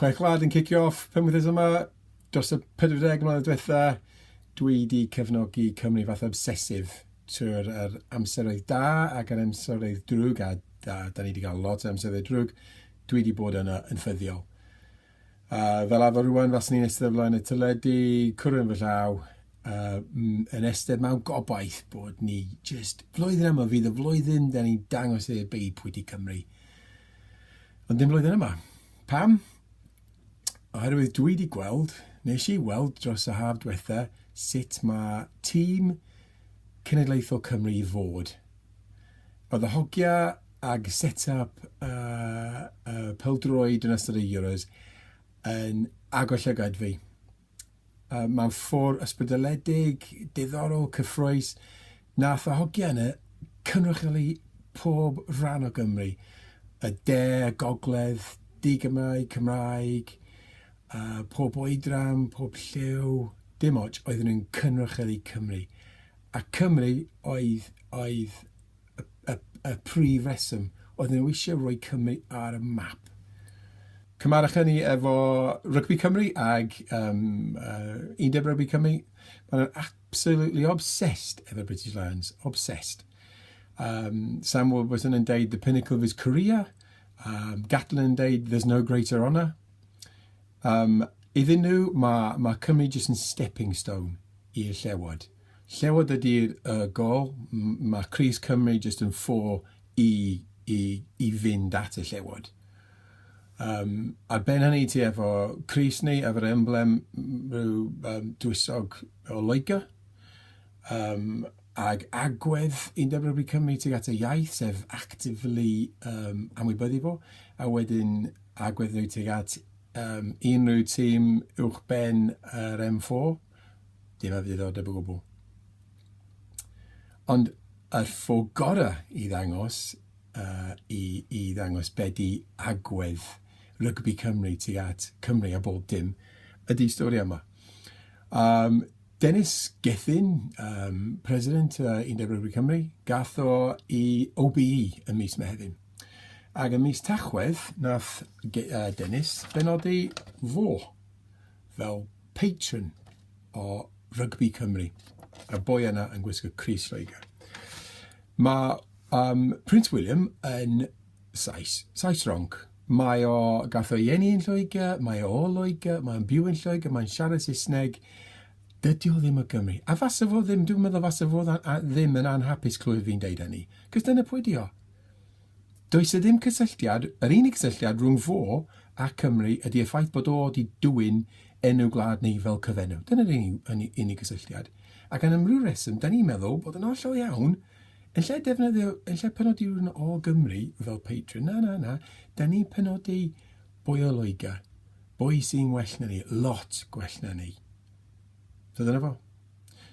Chwech Gwlad yn cicio off pum wythnos yma. Dros y 40 mlynedd diwetha, dwi wedi cefnogi Cymru fath obsesif trwy'r yr amseroedd da ac yr amseroedd drwg, a, a da ni wedi cael lot o amseroedd drwg, dwi wedi bod yna yn ffyddiol. A fel arfer rwan, fas ni'n ystod flaen y tyledu, cwrw yn fy llaw, uh, yn ystod mewn gobaith bod ni just flwyddyn yma fydd y flwyddyn da ni'n dangos i'r byd pwy di Cymru. Ond dim flwyddyn yma. Pam? Oherwydd dwi wedi gweld, nes i weld dros y haf diwetha, sut mae tîm cenedlaethol Cymru i fod. Oedd y hogia ag set-up y uh, peldroed yn ystod y Euros yn agor llygad fi. yy mewn ffordd ysbrydoledig, diddorol, cyffrous, nath y hogiau yna cynrychioli pob rhan o Gymru, y de, y gogledd, di-Gymraeg, Cymraeg, uh, pob oedran, pob lliw, dim ots, oedden nhw'n cynrychioli Cymru. A Cymru oedd, oedd y, y, y prif reswm. Oedden nhw eisiau rhoi Cymru ar y map. Cymarwch hynny efo Rygbi Cymru ag um, uh, Undeb Rygbi Cymru. Maen nhw'n absolutely obsessed efo British Lions. Obsessed. Um, Sam Warburton yn deud the pinnacle of his career. Um, Gatlin yn deud there's no greater honour. Um, iddyn nhw, mae, mae Cymru jyst yn stepping stone i'r llewod. Llewod ydy y gol, mae crys Cymru jyst yn ffôl i, i, i fynd at y llewod. Um, ar ben hynny ti efo crys ni, efo'r emblem rhyw um, dwysog o Loegr, um, ag agwedd i'n dyfrwybyd Cymru tuag at y iaith, sef actively um, amwybyddu fo, a wedyn agwedd nhw tuag at um, unrhyw tîm uwch ben yr M4. Dim o ddiddordeb o gwbl. Ond yr ffordd gorau i ddangos, uh, i, i ddangos be di agwedd rygbi Cymru tuag at Cymru a bob dim, ydy stori yma. Um, Dennis Gethin, um, president uh, Undeb Rygbi Cymru, gath o i OBE ym mis Mehefin. Ac ym mis Tachwedd, nath uh, Dennis benodi fo fel patron o rygbi Cymru, y boi yna yn gwisgo crys Lloegr. Mae um, Prince William yn Sais, Sais ronc. Mae o, gath o'i eni yn Lloegr, mae o o Lloegr, mae'n byw yn Lloegr, mae'n siarad Saesneg. Dydy o ddim o Gymru. A fasa fo ddim, dwi'n meddwl fasa fo ddim yn anhapus clywed fi'n deud hynny. Cos dyna pwy di o. Does 'na ddim cysylltiad, yr unig gysylltiad rhwng fo a Cymru ydy y ffaith bod o 'di dwyn enw gwlad ni fel cyfenw. Dyna'r unig, unig gysylltiad. Ac am unrhyw reswm, da ni'n meddwl bod yn hollol iawn, yn lle defnyddio, yn lle penodi rhywun o Gymru fel patron, na, na, na, da ni'n penodi boi o Loegr, boi sy'n well na ni, lot gwell na ni. So dyna fo.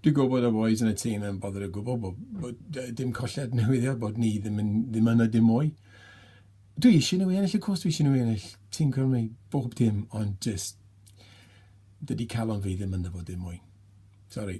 Dwi'n gwybod bod y bois yn y tîm yn bothered o gwbl bod, bod yy, dim colled newyddion bod ni ddim yn ddim yna dim mwy. Dwi eisiau nhw i ennill, y cwrs dwi eisiau nhw i ennill. Tîm Cymru, bob dim, ond just dydy calon fi ddim ynddo fo dim mwy. Sori.